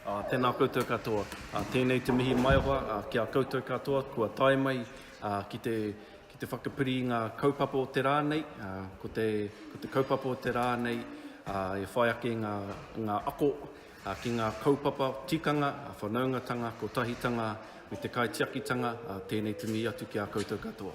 Tēnā koutou katoa. Tēnei te mihi maioha ki a koutou katoa kua tae mai ki te ki te whakapiri i ngā kaupapa o te rā nei. Ko te ko te kaupapa o te rā nei e whai ake ngā ngā ako ki ngā kaupapa tikanga, whanaungatanga, kotahitanga me te kaitiakitanga. Tēnei te mihi atu ki a koutou katoa.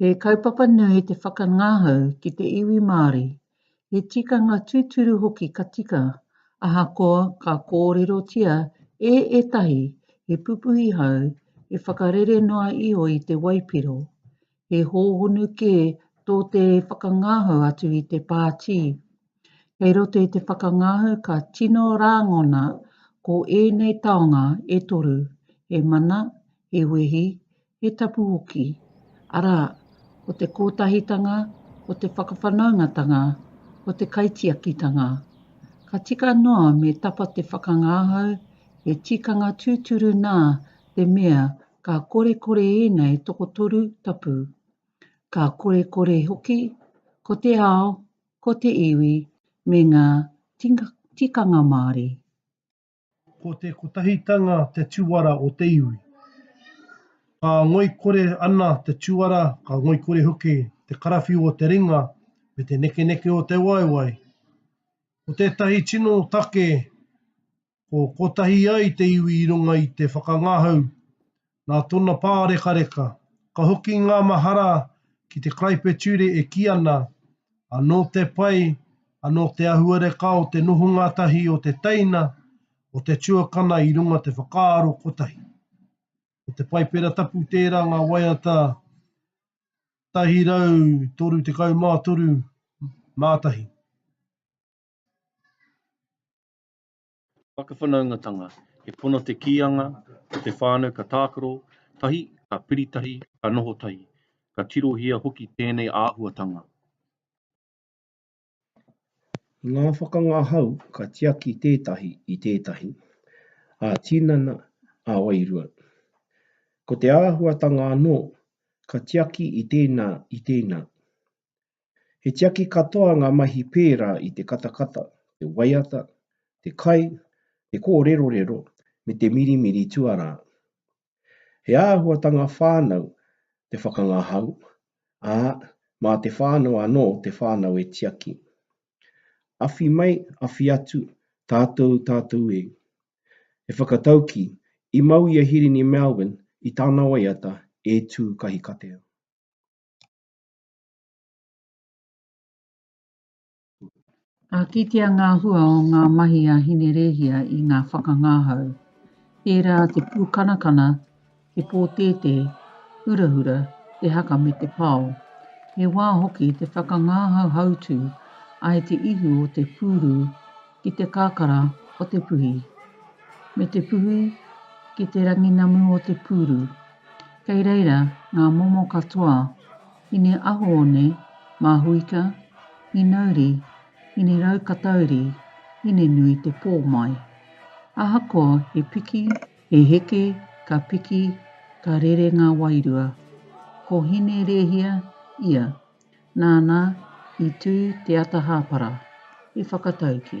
He kaupapa nui te whakangahau ki te iwi Māori, he tikanga tūturu hoki ka tika, ahakoa ka kōrerotia e ētahi he pupuhi hou, he whakarere noa iho i te waipiro. He hōhonu kē tō te whakangahau atu i te pātī. Kei roto i te whakangahau ka tino rāngona ko ēnei taonga e toru, he mana, he wehi, He tapu hoki, arā, ko te kōtahitanga, ko te whakawhanaungatanga, ko te kaitiakitanga. Ka tika noa me tapa te whakangahau, he tikanga tūturu nā te mea ka korekore ēnei tokotoru tapu. Ka korekore hoki, ko te ao, ko te iwi, me ngā tikanga Māori. Ko te kotahitanga te tuara o te iwi. Ka ngoikore ana te tuara, ka ngoikore hoki te karawhiu o te ringa me te nekeneke o te waewae. Ko tētahi tino take ko kotahi ai te iwi i runga i te whakangahau Nā tōna pārekareka, ka hoki ngā mahara ki te karaipeture e kī ana, Anō te pai, anō te ahuareka o te nohonga tahi o te teina, o te tuakana i runga te whakaaro kotahi. Ko te Paipera Tapu tērā ngā waiata 133 mā tahi. Te whakawhanaungatanga, he pono te kīanga, ko te whānau ka tākaro tahi, ka piri tahi, ka noho tahi. Ka tirohia hoki tēnei āhuatanga. I ngā whakangahau ka tiaki tētahi i tētahi, ā-tinana, ā-wairua. Ko te āhuatanga anō, ka tiaki i tēnā, i tēnā. He tiaki katoa ngā mahi pērā i te katakata, te waiata, te kai, te kōrerorero, me te mirimiri tuarā. He āhuatanga whānau te whakangahau, ā, mā te whānau anō te whānau e tiaki. Awhi mai, awhi atu, tātou, tātou e. He whakataukī, i mau i a Hirini Melvin i tana waiata E Tū Kahikatea. Ka kitea ngā hua o ngā mahi a Hinerēhia i ngā whakangahau, tērā te pūkanakana, te pōtētē, hurahura, te haka me te pao. He wā hoki te whakangahau hautū ai te ihu o te pūrū ki te kakara o te puhi, me te puhi ki te ranginamu o te pūrū. Kei reira ngā momo katoa Ine Ahoone, Mahuika, Inauri, Ineraukatauri, Ine nui te pō mai. Ahakoa he piki, he heke, ka piki, ka rere ngā wairua. Ko Hine Rēhia ia, nāna i tū te ata hāpara, i whakatauki.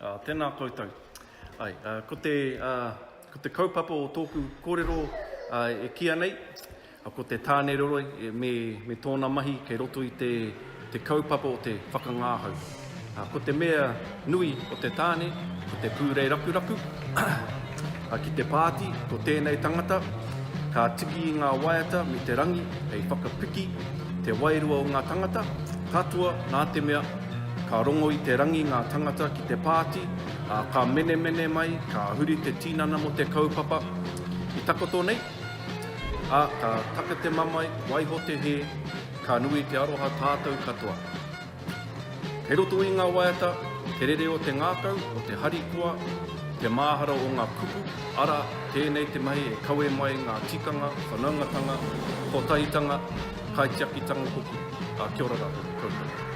Ā, tēnā koutou. Āe, ā, ko te, ā, ko te kaupapa o tōku kōrero, ā, e kīa nei, ā, ko te Tāne Roroi e, me, me tōna mahi kei roto i te, te kaupapa o te whakangāhau. Ā, ko te mea nui o te tāne, ko te pūreiraku raku, Ka kite pāti ko tēnei tangata, ka tiki i ngā waiata me te rangi hei whakapiki te wairua o ngā tangata, katoa nā te mea, ka rongo i te rangi ngā tangata ki te pāti, ā, ka menemene mai, ka huri te tinana mō te kaupapa i takoto nei, ā, ka taka te mamae, waiho te hē, ka nui te aroha tātou katoa. Kei roto i ngā waiata te rere o te ngākau, o te harikoa, te māhara o ngā kupu, arā, tēnei te mahi e kawe mai ngā tikanga, whanaungatanga, kotahitanga, kaitiakitanga hoki. Ka kia ora rātou koutou.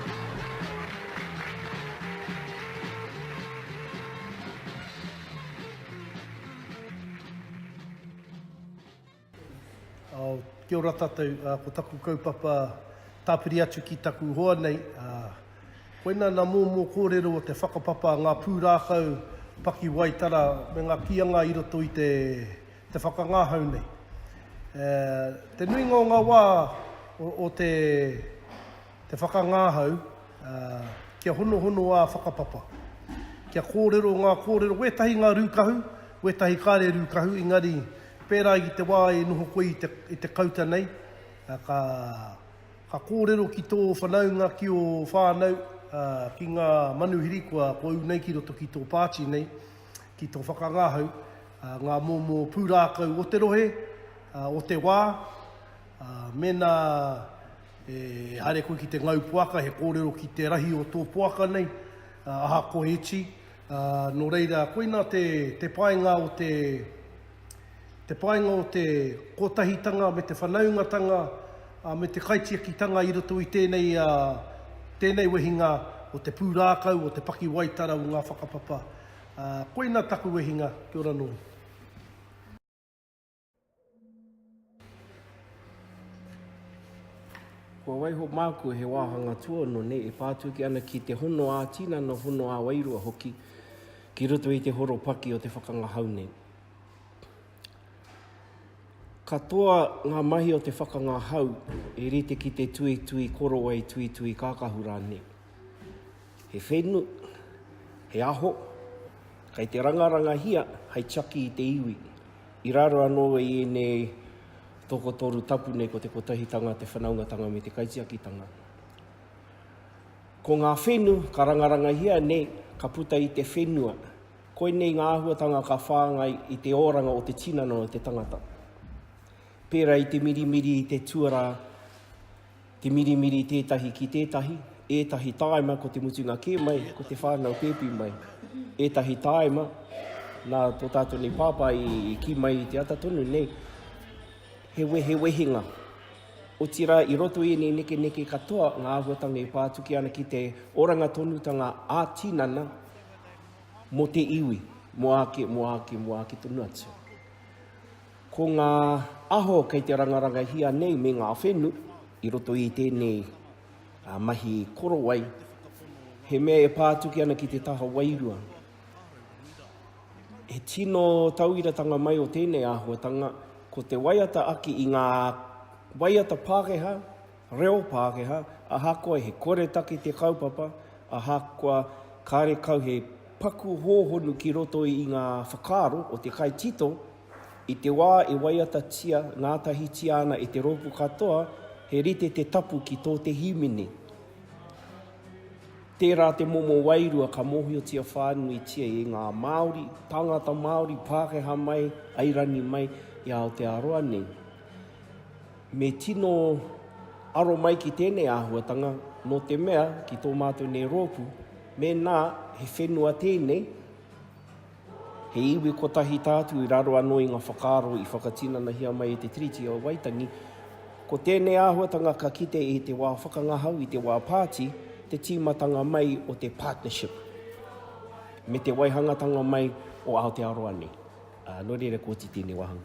Kia ora tatou, ko taku kaupapa tapiri atu ki taku hoa nei, koina na momo korero o te whakapapa nga purākau pakiwaitara me nga kianga i roto i te whakangahau nei. Te nuinga o nga wa o te Te whakangahau, ā, kia honohono ā whakapapa. Kia kōrero ngā kōrero, wētahi ngā rūkahu, wētahi kāre rūkahu, engari pērā i te wā e noho koe i te kauta nei, ka, ka kōrero ki tō whanaunga, ki ō whānau, ā, ki ngā manuhiri kua, kua ū nei ki roto ki tō pāti nei, ki tō whakangahau, ā, ngā momo pūrākau o te rohe, ā, o te wā, ā, mēnā E haere koe ki te ngau poaka, he kōrero ki te rahi o tō poaka nei, ahakoa e iti. Nō reira, koina te painga o te, te painga o te kotahitanga me te whanaungatanga me te kaitiakitanga i roto i tēnei, tēnei wehinga o te pūrākau, o te pakiwaitara o ngā whakapapa. Koina taku wehinga, kia ora nōu. Kua waiho māku he wāhanga tuono nei e pātuki ana ki te hono ā-tinana, hono ā-wairua hoki ki roto i te horopaki o te whakangahau nei. Katoa ngā mahi o te whakangahau e rite ki te tuitui korowai, tuitui kākahu rānei. He whenu, he aho, kei te rangarangahia hei tiaki i te iwi, i raro anō i ēnei tokotoru tapu nei ko te kotahitanga, te whanaungatanga me te kaitiakitanga. Ko ngā whenu ka rangarangahia nei, ka puta i te whenua, koinei ngā āhuatanga ka whāngai i te oranga o te tinana o te tangata. Pērā i te mirimiri i te tuarā, Te mirimiri tētahi ki tētahi, ētahi tāima ko te mutunga kē mai, ko te whānau pēpi mai. Ētahi tāima, nā tō tātou nei pāpā i, i ki mai i te ata tonu nei, he, we, he wehinga. Otirā, i roto i ēnei neke neke katoa, ngā āhuatanga e pā atu ki ana ki te oranga tonutanga ā tinana mō te iwi, mō āke, mō āke, mō āke tonu atu. Ko ngā aho kei te rangarangahia nei me ngā whenu i roto i tēnei mahi korowai, he mea e pā atu ki ana ki te taha wairua. He tino tauiratanga mai o tēnei āhuatanga, ko te waiata ake i ngā waiata Pākehā, Reo Pākehā, ahakoa he koretake te kaupapa, ahakoa kāre kau he paku hōhonu ki roto i ngā whakaaro o te kaitito, i te wā e waiatatia ngātahitia ana e te rōpū katoa, he rite te tapu ki tō te hīmene. Tērā te momo wairua ka mōhiotia whānuitia e ngā Māori, tāngata Māori, Pākehā mai, Airani mai, i Aotearoa nei. Me tino aro mai ki tēnei āhuatanga, nō te mea, ki tō mātou nei rōpū, mēnā he whenua tēnei, he iwi kotahi tātou i raro anō i ngā whakaaro i whakatinanahia mai e te Tiriti o Waitangi, ko tēnei āhuatanga ka kite i te wā whakangahau, i te wā pāti, te tīmatanga mai o te partnership me te waihangatanga mai o Aotearoa nei. Nō reira, koti tēnei wāhanga.